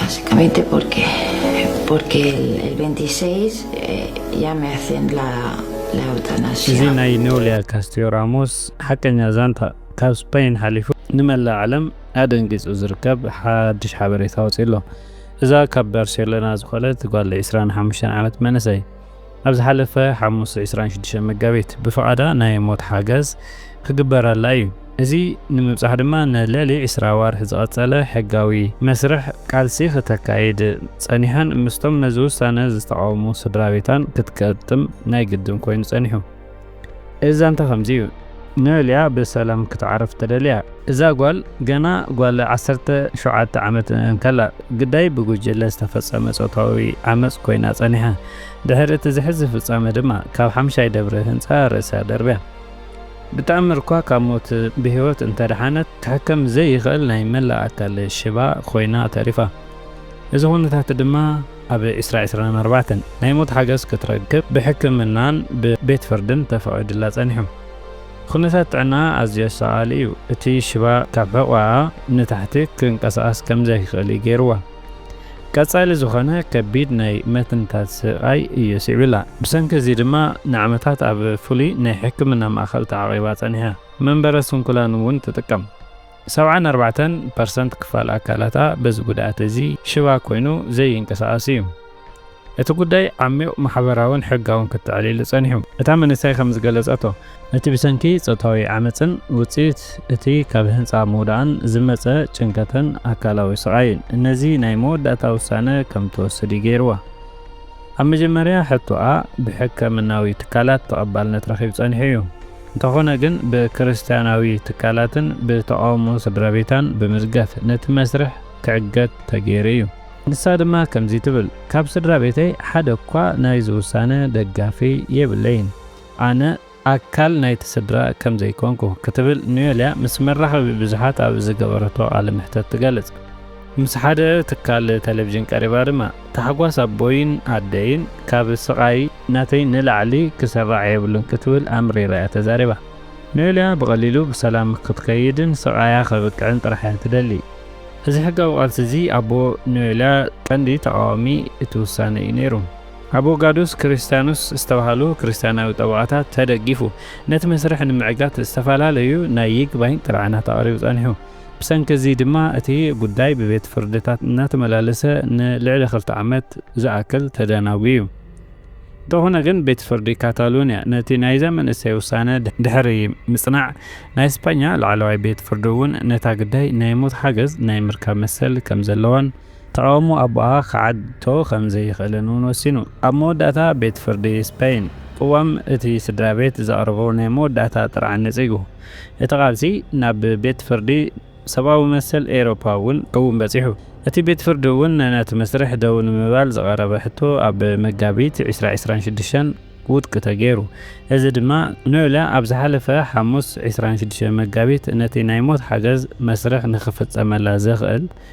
Básicamente porque, porque el, el 26 eh, ya me hacen la, la eutanasia. እዚ ናይ ኖሊያ ካስቲዮ ራሞስ ሓቀኛ ዛንታ ካብ ስፐይን ሓሊፉ ንመላእ ዓለም ኣደንጊጹ ዝርከብ ሓድሽ ሓበሬታ ወጺኡ ኣሎ። እዛ ካብ ባርሴሎና ዝኾነት ጓል 25 ዓመት መንእሰይ ኣብ ዝሓለፈ ሓሙስ ዕስራን ሽዱሽተን መጋቢት ብፍቓዳ ናይ ሞት ሓገዝ ክግበረላ እዩ። እዚ ንምብጻሕ ድማ ንልዕሊ ዕስራ ኣዋርሕ ዝቐጸለ ሕጋዊ መስርሕ ቃልሲ ክተካይድ ጸኒሓን ምስቶም ነዚ ውሳነ ዝተቓወሙ ስድራቤታን ክትገጥም ናይ ግድን ኮይኑ ጸኒሑ። እዚ ዛንታ ከምዚ እዩ ንእልያ ብሰላም ክትዓርፍ ተደልያ። እዛ ጓል ገና ጓል ዓሰርተ ሸውዓተ ዓመት እንከላ ግዳይ ብጉጅለ ዝተፈጸመ ጾታዊ ዓመጽ ኮይና ጸኒሓ። ድሕሪ እቲ ዘሕዝን ፍጻመ ድማ ካብ ሓምሻይ ደብሪ ህንጻ ርእሳ ደርብያ። ብተኣምር እኳ ካብ ሞት ብህይወት እንተደሓነት ክሕከም ዘይኽእል ናይ መላእ ኣካል ሽባ ኮይና ተሪፋ። እዚ ኩነታት ድማ ኣብ ዕስራ ዕስራን ኣርባዕተን ናይ ሞት ሓገዝ ክትረክብ ብሕክምናን ብቤት ፍርድን ተፈቒዱላ ጸኒሑ። ኩነታት ጥዕናኣ ኣዝዩ ኣሳቓሊ እዩ፣ እቲ ሽባ ካብ ሕቖኣ ንታሕቲ ክንቀሳቐስ ከም ዘይክእል እዩ ገይርዋ። ቀጻሊ ዝኾነ ከቢድ ናይ መትንታት ስቓይ እዩ ስዒቡላ፣ ብሰንኪ እዚ ድማ ንዓመታት ኣብ ፍሉይ ናይ ሕክምና ማእከል ተዓቚባ ጸኒሓ፣ መንበረ ስንኩላን እውን ትጥቀም። ሰብዓን ኣርባዕተን ፐርሰንት ክፋል ኣካላታ በዚ ጉድኣት እዚ ሽባ ኮይኑ ዘይንቀሳቐስ እዩ። እቲ ጉዳይ ዓሚቝ ማሕበራውን ሕጋውን ክትዕል'ሉ ጸኒሑ። እታ መንእሰይ ከም ዝገለጸቶ፣ ነቲ ብሰንኪ ጾታዊ ዓመጽን ውጽኢት እቲ ካብ ህንጻ ምውዳቕን ዝመጸ ጭንቀትን ኣካላዊ ስቓይን፣ ነዚ ናይ መወዳእታ ውሳነ ከም ትወስድ እዩ ገይርዋ። ኣብ መጀመርያ ሕቶኣ ብሕከምናዊ ትካላት ተቐባልነት ረኺቡ ጸኒሑ እዩ። እንተኾነ ግን ብክርስትያናዊ ትካላትን ብተቓውሞ ስድራቤታን ብምዝገፍ ነቲ መስርሕ ክዕገት ተገይሩ እዩ። ንሳ ድማ ከምዚ ትብል፣ ካብ ስድራቤተይ ሓደ'ኳ ናይዚ ውሳነ ደጋፊ የብለይን። ኣነ። ኣካል ናይቲ ስድራ ከም ዘይኮንኩ ክትብል ኑየልያ ምስ መራኸቢ ብዙሓት ኣብ ዝገበረቶ ቃለ መሕተት ትገልጽ። ምስ ሓደ ትካል ተለቪዥን ቀሪባ ድማ፣ ታሕጓስ ኣቦይን ኣደይን ካብ ስቓይ ናተይ ንላዕሊ ክስራዕ የብሉን ክትብል ኣምሪራ እያ ተዛሪባ። ኑየልያ ብቐሊሉ ብሰላም ክትከይድን ስቓያ ከብቅዕን ጥራሕ እያ ትደሊ። እዚ ሕጋዊ ቃልሲ እዚ ኣቦ ኑየልያ ቀንዲ ተቓዋሚ እቲ ውሳነ እዩ ነይሩ። ኣቦጋዱስ ክርስቲያኑስ ዝተባህሉ ክርስቲያናዊ ጠበቓታት ተደጊፉ፣ ነቲ መስርሕ ንምዕጋት ዝተፈላለዩ ናይ ይግባኝ ጥርዓናት ኣቕሪቡ ጸኒሑ። ብሰንኪ እዚ ድማ እቲ ጉዳይ ብቤት ፍርድታት እናተመላለሰ ንልዕሊ ክልተ ዓመት ዝኣክል ተደናጉዩ። እንተኾነ ግን ቤት ፍርዲ ካታሎንያ ነቲ ናይዛ መንእሰይ ውሳነ ድሕሪ ምጽናዕ፣ ናይ ስጳኛ ላዕለዋይ ቤት ፍርዲ እውን ነታ ግዳይ ናይ ሞት ሓገዝ ናይ ምርካብ መሰል ከም ዘለዋን፣ ተቓውሞ ኣቦኣ ክዓግቶ ከም ዘይኽእልን እውን ወሲኑ። ኣብ መወዳእታ ቤት ፍርዲ ስፐይን፣ ቅዋም እቲ ስድራ ቤት ዘቕርቦ ናይ መወዳእታ ጥርዓን ነጺጉ። እቲ ቃልሲ ናብ ቤት ፍርዲ ሰብኣዊ መሰል ኤውሮጳ እውን እውን በጺሑ። እቲ ቤት ፍርዲ እውን ነቲ መስርሕ ደው ንምባል ዝቐረበ ሕቶ ኣብ መጋቢት ዕስራ ዕስራን ሽዱሽተን ውድቂ ተገይሩ። እዚ ድማ ኖይለ ኣብ ዝሓለፈ ሓሙስ ዕስራን ሽዱሽተን መጋቢት ነቲ ናይ ሞት ሓገዝ መስርሕ ንኽፍጸመላ ዘኽእል